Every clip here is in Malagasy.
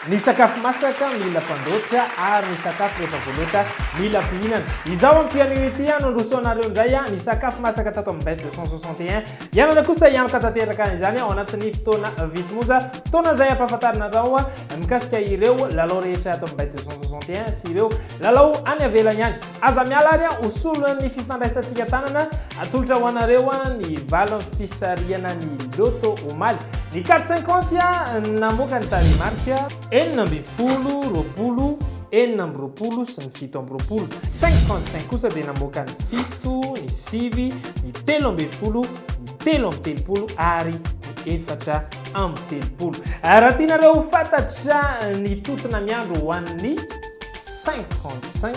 Ny sakafo masaka mila fandoatra ary ny sakafo rehefa voaloata mila fihinana. Izao ampianio ity aho no handrosoanareo indray ny sakafo masaka tato amin'ny bête de 161. Hianatra kosa hianoka tanteraka izany ao anatin'ny fotoana vitsy monja, fotoana izay hampahafantarina anao mikasika ireo lalao rehetra ato amin'ny Bay 261 sy ireo lalao any avelany any. Aza miala ary ho solon'ny fifandraisantsika tanana, atolotra ho anareo ny valin'ny fisarihana ny Lotto omaly. Ny Cat 50 namoaka ny tarehimarika. Enina ambin'ny folo, roapolo, enina amby roapolo sy ny fito amby roapolo. 55 kosa dia namoaka ny fito. fito, ny sivy, ny telo ambin'ny folo, ny telo amby telopolo ary ny efatra amby telopolo. Raha tianareo ho fantatra ny totona miandry ho an'ny 55,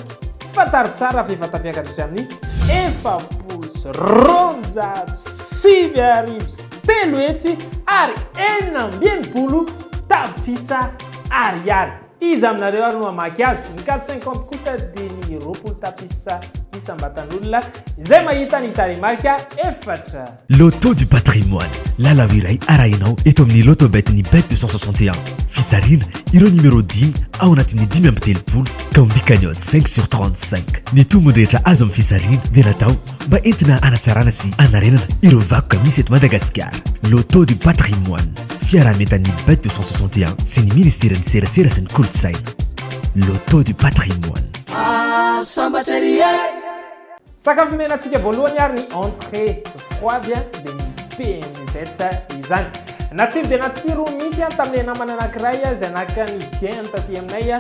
fantaro tsara fa efa tafiakatra hatramin'ny efapolo sy roanjato sivy arivo sy telo hetsy ary enina amby enimpolo tapitrisa ariary. Iza aminareo ary no hamaky azy? Ny quatre cinquante kosa dia ny roapolo tapises isam-batan'olona izay mahita ny tarehimarika efatra. Loto du patrimoine, lalao iray arahinao eto amin'ny Lotobet ny Bet deux cent soixante et un. Fizarina ireo numéro dimy ao anatin'ny dimy amby telopolo ka ombikan'ny odds cinq sur trente cinq. Ny tombony rehetra azo amin'ny fizarina dia natao mba entina hanatsarana sy hanarenana ireo vakoka misy eto Madagasikara. Loto du patrimoine, fiaraha-mientan'ny But 261 sy ny Ministeran'ny Serasera sy ny Kolontsaina. Loto du patrimoine. Ah, sambatra ery e! Sakafo omenantsika voalohany ary ny entrée froide dia ny PMZ izany. Natsiro dia natsiro mihitsy tamin'ilay namana anankiray izay naka ny gain taty aminay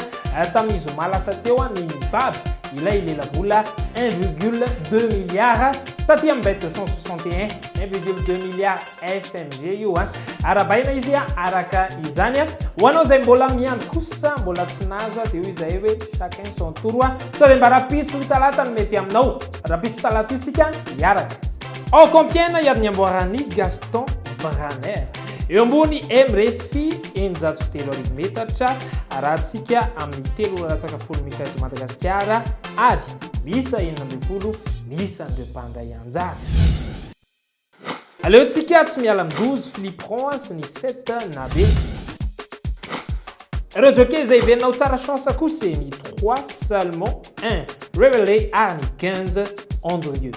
Tamin'ny zoma lasa teo ny mibaby ilay lelavola un virgule deux milliards taty amin'ny bet deux cent soixante et un, un virgule deux milliards FMG io an! Arabaina izy araka izany an! Ho anao izay mbola miandry kosa mbola tsy nahazo an! Dia hoy izahay hoe chacun son tour an! Sao dia mba rahampitso talata no mety aminao? Rahampitso talata io tsika hiaraka. Ao Compiègne ary ny amboaran'i Gaston Braner. Eo ambony MREF eninjato sy telo arivo metatra, arahantsika amin'ny telo ora latsaka folo minitra eto Madagasikara ary miisa enina ambin'ny folo ny isan'ireo mpandray anjara. Aleontsika tsy miala amin'ny douze flipperons sy ny sept nabe. Ireo jockey izay hiverina ho tsara chance kosa ny trois Salmon, un Revelé ary ny quinze Andrieux.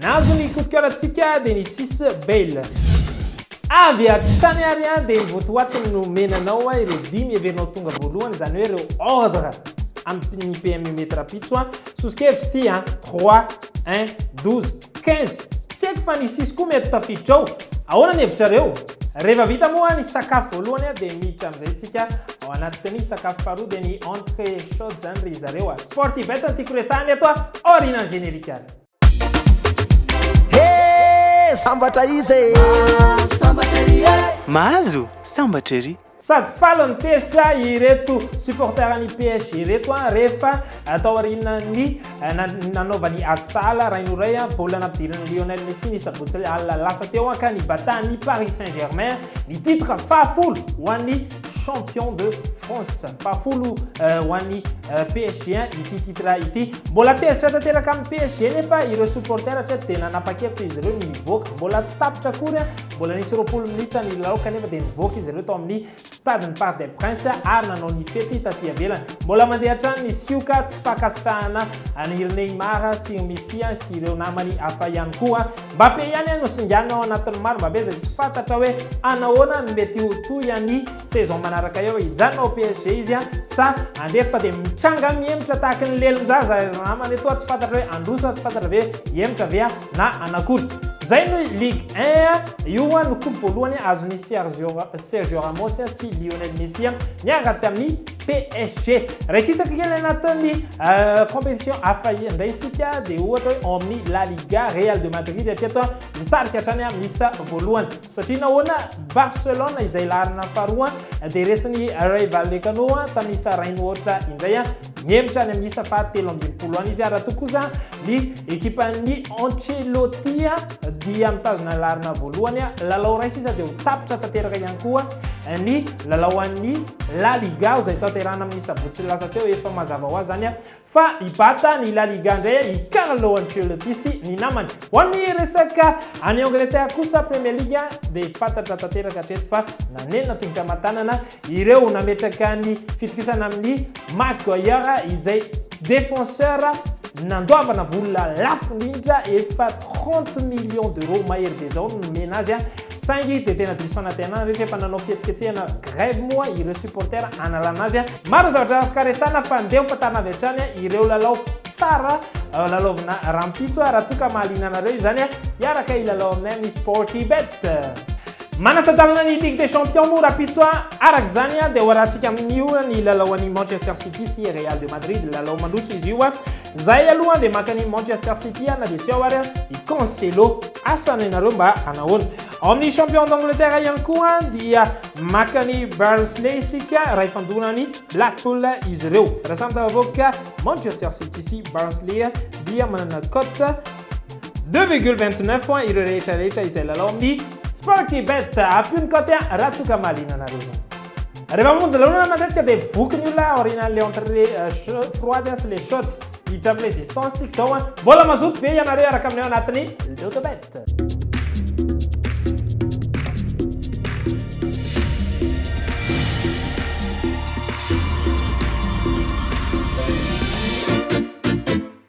Nahazo ny coup de coeur antsika dia ny sis Bale. Avy hatrany ary an dia ny votoatiny no omena anao a ireo dimy heverinao tonga voalohany izany hoe ireo ordre amin'ny PMU mety rapitso a soso-kevitry ity a 3 1 12 15 tsy haiko fa ny sisy koa mety tafiditra ao ahoana ny hevitrareo rehefa vita moa ny sakafo voalohany a dia miditra amin'izay tsika ao anaty ny sakafo faharoa dia ny entrée chaude izany ry zareo a sportivette ny tiako resahana eto a aorianan'ny générique Sambatra izy e! Sambatra ery e! Mahazo sambatra ery! Sady falo ny tezitra ireto supporter ny PSG ireto an, rehefa atao aorianan'ny nanaovany ady sahala rain'oray baolina nampidirin'i Lionel Messi ny sabotsy alina lasa teo an, ka nibata ny Paris Saint-Germain ny titre fahafolo ho an'ny champion de France. Fahafolo eh, ho an'ny eh, PSG ity titre ity. Mbola tezitra tanteraka amin'ny PSG nefa ireo supporter atreto dia nanapa-kevitra izy ireo ny hivoaka. Mbola tsy tapitra akory, eh. mbola nisy roapolo minitra ny lalao kanefa dia nivoaka izy ireo tao amin'ny stade ny Parc des Princes ary nanao ny fety taty avelany. Mbola mandeha hatrany ny sioka tsy fankasitrahana an'iry Neymar sy Messi sy ireo namany hafa ihany koa. Mbappé ihany no singanina ao anatin'ny maro mbabe izay tsy fantatra hoe hanao ahoana no mety ho toy an'i saison manaraka eo. Hijanona ao PSG izy sa handeha fa dia mitranga mihemotra tahaky ny lelon-jaza ry namana etoa tsy fantatra hoe handroso sa tsy fantatra ve hihemotra ve aho na hanakory. Izay no Ligue un a! Io ho'a no coupe voalohany azon'i Sergio Ramos sy Lionel Messi miaraka tamin'i PSG. Raikisaka kely anatin'ny compétition hafa indray isika dia ohatra hoe ao amin'ny La Liga, Real de Madrid hatreto mitarika hatrany amin'ny isa voalohany. Satria nahoana Barcelone izay laharana faharoa dia resin'ny Ray Vallecano tamin'ny isa iray mihoatra indray mihemotra any amin'ny isa fahatelo ambin'ny folo any izy raha toa kosa ny ekipan'ny Ancelotti dia mitazona ny laharana voalohany, lalao iray sisa dia ho tapitra tanteraka ihany koa ny lalao an'ny La Liga izay tanterahana amin'ny sabotsy lasa teo, efa mazava ho azy izany fa hibata ny La Liga indray i Carlo Ancelotti sy ny namany. Ho amin'ny resaka any Angleterre kosa Premier League dia fantatra tanteraka hatreto fa nanenina tongotra aman-tanana Ireo nametraka ny fitokisana amin'ny Maguire izay défenseur nandoavana vola lafo indrindra efa trente millions d'euros mahery be izao no nomena azy saingy dia tena diso fanantenana rehetra efa nanao fihetsiketsehana grève moa ireo supporters hanalana azy. Maro ny zavatra afaka resahana fa ndeha ho fantarina avy hatrany ireo lalao tsara lalaovina rahampitso raha toa ka mahaliana anareo izany hiaraka hilalao aminay amin'ny Sportybet. Manasa-dalana ny Ligue des Champions moa Rapitso a! Araka izany dia hoarahantsika amin'io ny lalao an'i Manchester City sy Real de Madrid. Lalao mandroso izy io. Izahay aloha dia maka an'i Manchester City na dia tsy ao ary i Cancelo. Asa ny anareo mba hanahoana? Ao amin'ny Champion d'Angleterre ihany koa dia maka an'i Barnsley isika raha ifandona an'i Blackpool izy ireo. Raha samy tafavoaka Manchester City sy Barnsley dia manana cote Deux virgule vingt neuf ho an ireo rehetra rehetra izay lalao amin'ny Sporty Bet, ampio ny kaoty an raha toa ka mahaliana anareo zany. Rehefa mamonjy lanonana matetika dia voky ny olona aorianan'le entre froide an sy le chaude. Hiditra amin'ny resistance tsika izao an. Mbola mazoto ve ianareo hiaraka aminay ao anatin'ny Loto Bet?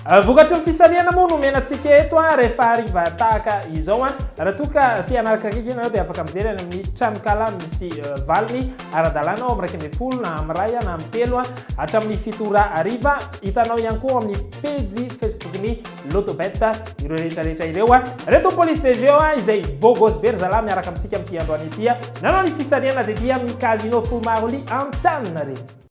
Vokatry ny fisarihana moa no omena antsika eto rehefa hariva tahaka izao. Raha toa ka te hanaraka akaiky ianareo dia afaka mijery any amin'ny tranonkala misy valiny ara-dalàna ao amin'ny iraika ambin'ny folo na amin'ny iray na amin'ny telo hatramin'ny fito ora hariva. Hitanao ihany koa amin'ny pejy Facebook-ny Lotobet ireo rehetra rehetra ireo. Reto ny police des jeux izay beau gosse be ry zalahy miaraka amintsika amin'ity androany ity. Nanao ny fisarihana tetia amin'ny Casino Fumaro Lee Antaninarenina.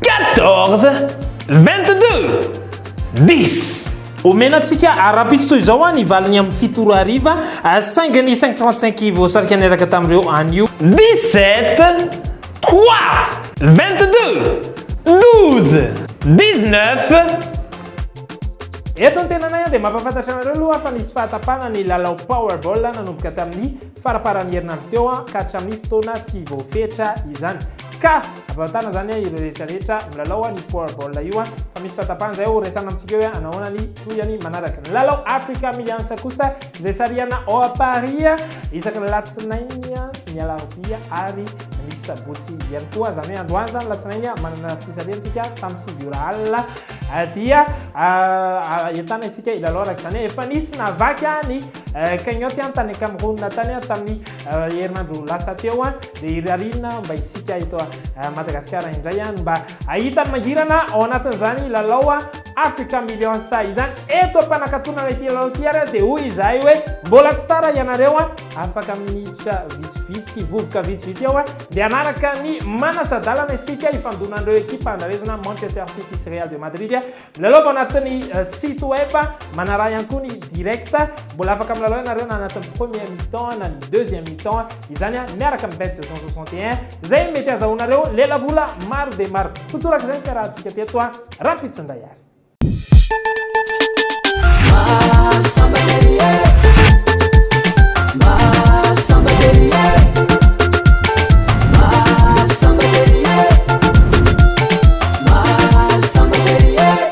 Quatorze, vingt-deux, dix. Omena antsika ara-pitsy toy izao ah, ny valiny amin'ny fito ora hariva, ah, saingy ny cinq trente cinq voasarika niaraka tamin'ireo anio. Dix-sept, trois, vingt-deux, douze, dix-neuf. Eto an-tenanay dia mampahafantatra anareo aloha fa nisy fahatapahana ny lalao Powerball nanomboka tamin'ny faraparan'ny herinandro teo ka hatramin'ny fotoana tsy voafetra izany ka ampahotana izany ireo rehetra rehetra milalao ny powerball io fa misy fahatapahana izay ho resana amintsika hoe anahoana ny tohiny manaraka ny lalao Africa Millions kosa izay sarihana ao à Paris isaka ny alatsinainy ny alarobia ary ny sabotsy ihany koa izany hoe androany izany alatsinainy manana fisarihantsika tamin'ny sivy ora alina dia ahitana isika ilalao araka izany efa nisy navaky any Cagnotte an tany Cameroun tany an tamin'ny herinandro lasa teo an dia irariana mba isika eto Madagasikara indray an mba ahita ny mangirana ao anatin'izany lalao Africa Millions izany eto am-panakatonana ity lalao ity ary dia hoy izahay hoe mbola tsy tara ianareo an afaka minitra vitsivitsy vovoka vitsivitsy eo an dia anaraka ny manasa-dalana isika ifandonan'ireo ekipa andrarezina Manchester City sy Real de Madrid Milalao avy ao anatin'ny site web, manaraha ihany koa ny direct. Mbola afaka milalao ianareo na anatin'ny premier mi-temps na ny deuxième mi-temps. Izany miaraka amin'ny bet 261 izay mety hazahoanareo lelavola maro dia maro. Ho toraka izay ny fiarahantsika teto rahampitso indray ary.